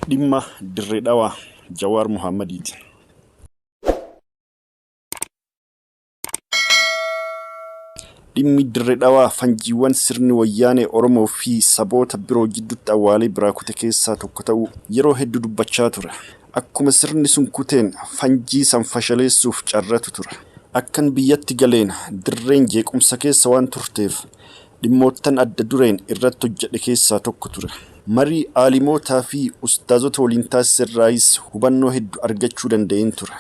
Dhimma Dirree Dhawaa Jawaar Mohaammadiitiin. Dhimmi Dirree Dhawaa fanjiiwwan sirni wayyaanee Oromoo fi saboota biroo jidduutti awwaalee biraa kute keessaa tokko ta'uu yeroo heddu dubbachaa ture. Akkuma sirni sun kuteen fanjii san fashaleessuuf carratu ture. Akkan biyyatti galeen dirreen jeequmsa keessa waan turteef dhimmoottan adda dureen irratti hojjedhe keessaa tokko ture. Marii aalimootaa fi ustaazota waliin taasise irraayis hubannoo heddu argachuu danda'een ture.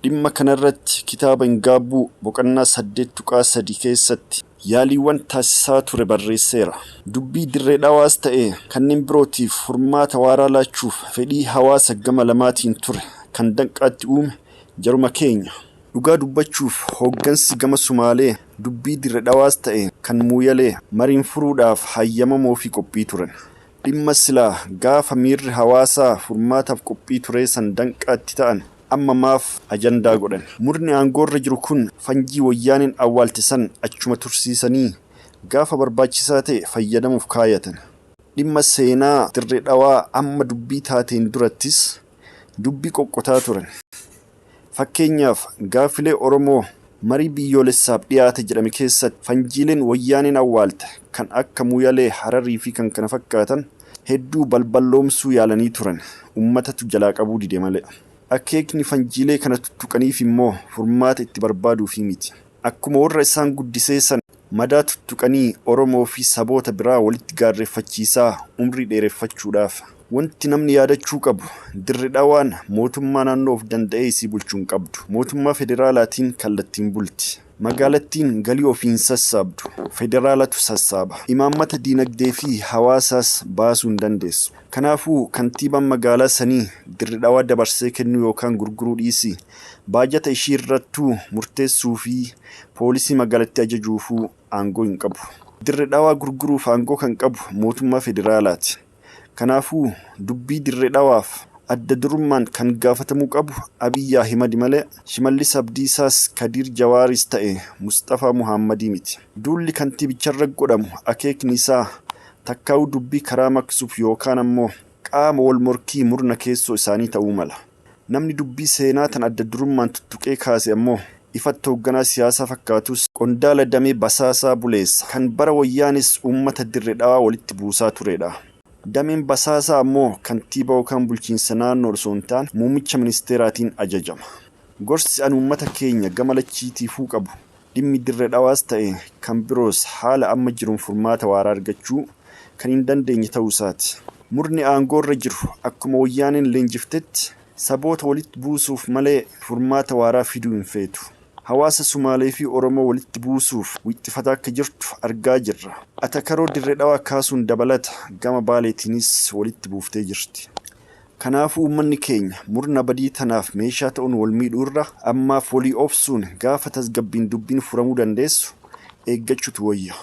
Dhimma kana irratti kitaaba hin gaabbuu boqonnaa 8.3 keessatti yaaliiwwan taasisaa ture barreesseera. Dubbii Dirree Dhawaas ta'e kanneen birootiif furmaata waaraa laachuuf fedhii hawaasa gama lamaatiin ture kan danqaatti uume jaruma keenya. Dhugaa dubbachuuf hooggansi gama Sumaalee dubbii Dirre Dhawaas ta'e kan Muuyalee mariin furuudhaaf hayyamamoofii qophii turan. Dhimma silaa gaafa miirri hawaasaa furmaataaf qophii turee san danqaa itti ta'an amma maaf ajandaa godhan? Murni aangoorra jiru kun fanjii Woyyaaneen awwaalte san achuma tursiisanii gaafa barbaachisaa ta'e fayyadamuuf kaayatan. Dhimma seenaa Dirre Dhawaa amma dubbii taateen durattis dubbii qoqqotaa turan. Fakkeenyaaf, gaaffilee Oromoo marii biyyoolessaaf dhiyaate jedhame keessatti fanjiileen Wayyaaneen awwaalte kan akka Muyalee, Hararii fi kkf hedduu balballoomsuu yaalanii turan, ummatatu jalaa qabuu dide malee. Akeekni fanjiilee kana tuttuqaniif immoo furmaata itti barbaaduufii miti. Akkuma warra isaan guddisee sana madaa tuttuqanii Oromoo fi saboota biraa walitti gaarreeffachiisaa umrii dheereffachuudhaaf wanti namni yaadachuu qabu Dirre Dhawaan mootummaa naannoo of danda'ee isii bulchu hin qabdu. Mootummaa federaalaatiin kallattiin bulti. Magaalattiin galii ofii hin sassaabdu. Federaalatu sassaaba. Imaammata diinagdee fi hawaasaas baasuu hin dandeessu. Kanaafuu kantiibaan magaalaa sanii Dirre Dhawaa dabarsee kennuu yookaan gurguruu dhiisii Baajata ishiirrattuu murteessuufi poolisii magaalatti ajajuufuu aangoo hin qabu. Dirre Dhawaa gurguruuf aangoo kan qabu mootummaa federaalaati. Kanaafuu dubbii Dirre Dhawaaf adda durummaan kan gaafatamuu qabu Abiy Ahimadi malee Shimallis Abdiisaas Kadiir Jawaaris ta'e Musxafaa Muhaammadii miti. Duulli kantiibicharra godhamu akeekni isaa takkaawuu dubbii karaa maqsuuf yookaan ammoo qaama wal morkii murna keessoo isaanii ta'uu mala. Namni dubbii seenaa tan adda durummaan tuttuqee kaase ammoo, ifatti hoogganaa siyaasaa fakkaatus, qondaala damee basaasaa buleessa, kan bara Wayyaanees uummata Dirre Dhawaa walitti buusaa tureedha. Dameen basaasaa ammoo kantiibaa yookaan bulchiinsa naannoo osoo hin taane, muummicha ministeeraatiin ajajama. Gorsi ani uummata keenya gama lachiitiifuu qabu, Dhimmi Dirre Dhawaas ta'e kan biroos haala amma jiruun furmaata waaraa argachuu kan hin dandeenye ta'uu isaati. Murni aangoo irra jiru akkuma Wayyaaneen leenjiftetti saboota walitti buusuuf malee furmaata waaraa fiduu hin feetu. Hawaasa Sumaalee fi Oromoo walitti buusuuf wixxifataa akka jirtu argaa jirra. Atakaroo Dirre Dhawaa kaasuun dabalata gama Baaleetiinis walitti buuftee jirti. Kanaafuu uummanni keenya murna badii tanaaf meeshaa ta'uun wal miidhuu irra ammaaf walii obsuun gaafa tasgabbiin dubbiin furamuu dandeessu eeggachuutu wayya.